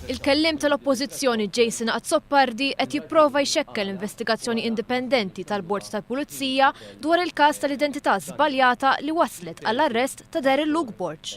Il-Kelliem tal-Oppożizzjoni Jason Azzopardi qed jipprova jxekkel investigazzjoni indipendenti tal-Bord tal-Pulizija dwar il-każ tal-identità żbaljata li wasslet għall-arrest ta' Darryl Luke Borg.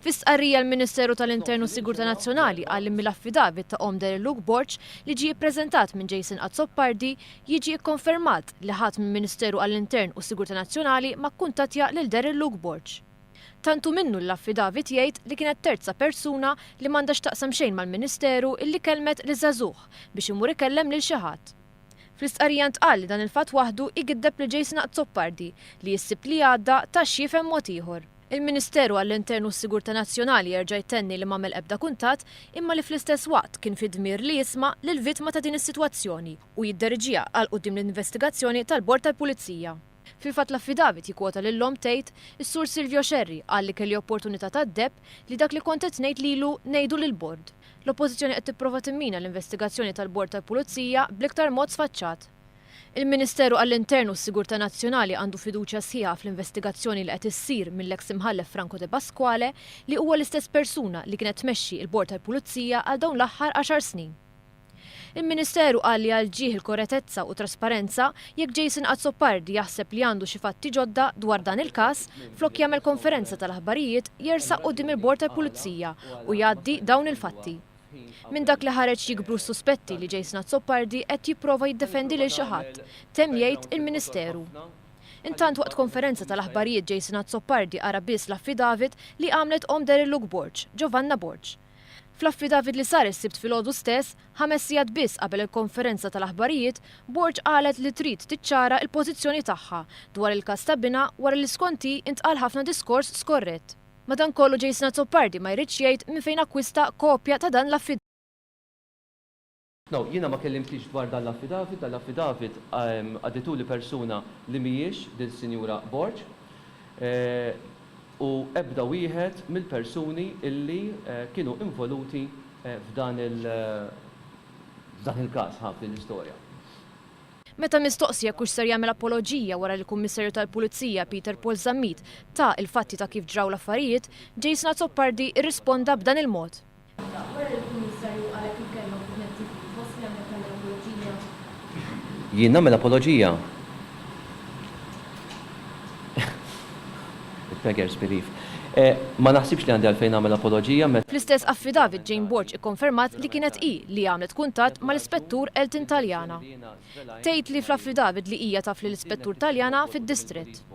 Fi stqarrija l-Ministeru tal-Intern u s-Sigurtà Nazzjonali qal li mill-affidavit ta' omm Darryl Luke Borg li ġie ppreżentat minn Jason Azzopardi jiġi kkonfermat li ħadd minn Ministeru għall-Intern u s-Sigurtà Nazzjonali ma kkuntattja lil Darryl Luke Borg. Tant hu minnu li l-affidavit jgħid li kienet terza persuna li m'għandha x'taqsam xejn mal-Ministeru illi kellmet liż-żagħżugħ biex imur ikellem lil xi ħadd. Fl-istqarrija ntqal li dan il-fatt waħdu jgiddeb lil Jason Azzopardi li jissib li għadda ta' x'jifhem mod ieħor. Il-Ministeru għall-Intern u s-Sigurtà Nazzjonali jerġa' jtenni li m'għamel ebda kuntatt imma li fl-istess waqt kien fi dmir li jisma' lill-vittma ta' din is-sitwazzjoni u jidderiġiha għal quddiem l-investigazzjoni tal-Bord tal-Pulizija. Fil-fatt l-affidavit jikkwota lil omm tgħid, Is-Sur Silvio Scerri qal li kelli opportunità tad-deheb li dak li kont qed ngħid lilu ngħidu lill-Bord. L-Oppożizzjoni qed tipprova timmina l-investigazzjoni tal-Bord tal-Pulizija bl-iktar mod sfaċċat. Il-Ministeru għall-Intern u s-Sigurtà Nazzjonali għandu fiduċja sħiħa fl-investigazzjoni li qed issir mill-eks Imħallef Franco Depasquale li huwa l-istess persuna li kienet tmexxi l-Bord tal-Pulizija għal dawn l-aħħar għaxar snin. Il-Ministeru qal li għal ġieħ il-koretezza u trasparenza, jekk Jason Azzopardi jaħseb li għandu xi fatti ġodda dwar dan il-każ, flok jagħmel konferenza tal-aħbarijiet jersaq quddiem il-Bord tal-Pulizija u jgħaddi dawn il-fatti. Minn dak li ħareġ jikbru s-suspetti li Jason Azzopardi qed jipprova jiddefendi lil xi ħadd, temm jgħid il-Ministeru. Intant waqt konferenza tal-aħbarijiet Jason Azzopardi qara biss l-affidavit li għamlet omm Darillu Gborg, Giovanna Borg. Fl-affidavit li sar is-Sibt filgħodu stess, ħames sigħat biss qabel il-konferenza tal-aħbarijiet, Borg qalet li trid tiċċara l-pożizzjoni tagħha dwar il-każ ta' binha wara li skont hi intqal ħafna diskors skorrett. Madankollu Jason Azzopardi ma jridx jgħid minn fejn akkwista kopja ta' dan l-affidavit. No, jiena ma kellimtix dwar dan l-affidavit, dan l-affidavit għaddituli persuna li mhijiex din Sinjura Borg, u ebda wieħed mill-persuni illi kienu involuti f'dan il f'dan il-każ, ħa, f'din l-istorja. Meta mistoqsi jekk hux ser jagħmel apoloġija wara li l-Kummissarju tal-Pulizija Peter Paul Zammit ta il-fatti ta' kif ġraw l-affarijiet, Jason Azzopardi rrisponda b'dan il-mod. Wara li l-Kummissarju qal hekk il-kelma fuq Net TV, fost li għamlet tagħmel apoloġija, Jien nagħmel apoloġija? Il-beggars believe. Ma naħsibx li għandi għalfejn nagħmel apoloġija meta. Fl-istess affidavit Jane Borg ikkonfermat li kienet hi li għamlet kuntatt mal-Ispettur Elton Taliana. Tgħid li fl-affidavit li hija taf lill-Ispettur Taliana fid-Distrett.